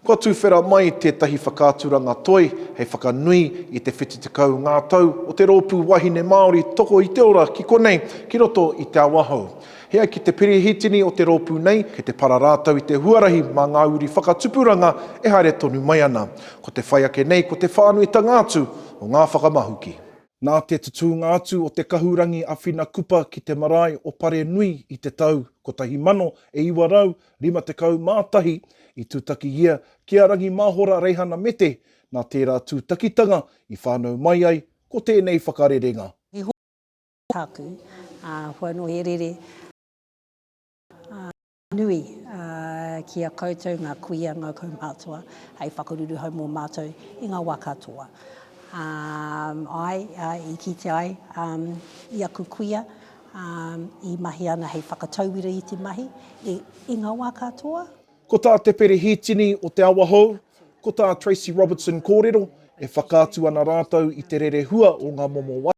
Kua tuwhera mai tētahi whakaaturanga toi hei whakanui i te 70 ngā tau o te rōpū wahine Māori Toko i te Ora ki konei, ki roto i Te Awahou. E ai ki te Perehitini o te rōpū nei, kei te para rātou i te huarahi mā ngā uri whakatupuranga e haere tonu mai ana. Ko te whai ake nei ko te whānuitanga atu o ngā whakamahuki. Nā te tutūnga atu o te kahurangi a Whina Kupa ki te marae o Parenui i te tau 1951 i tūtaki ia ki a Rangi Māhora Reihana Mete, nā tērā tūtakitanga i whānau mai ai ko tēnei whakarerenga. He hōia tāku, ā, kua noho he rere, ā. Nui, ā, ki a koutou ngā kuia, ngā kaumātua, hei whakaruruhau mō mātou i ngā wā katoa. Ā, āe, ā, i kite ai, ā, i aku kuia, ā, i mahi ana hei whakatauira i te mahi, i, i ngā wā katoa. Ko tā te Perehitini o Te Awahou, ko tā Tracy Robertson kōrero, e whakaatu ana rātou i te rerehua o ngā momo wai,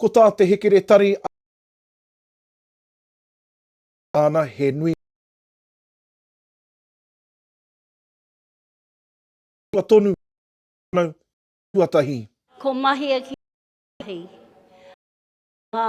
Ko tā te hekeretari a Tāna he nui tua tonu whānau tuatahi. Ko Mahia ki te Ahi. Ngā.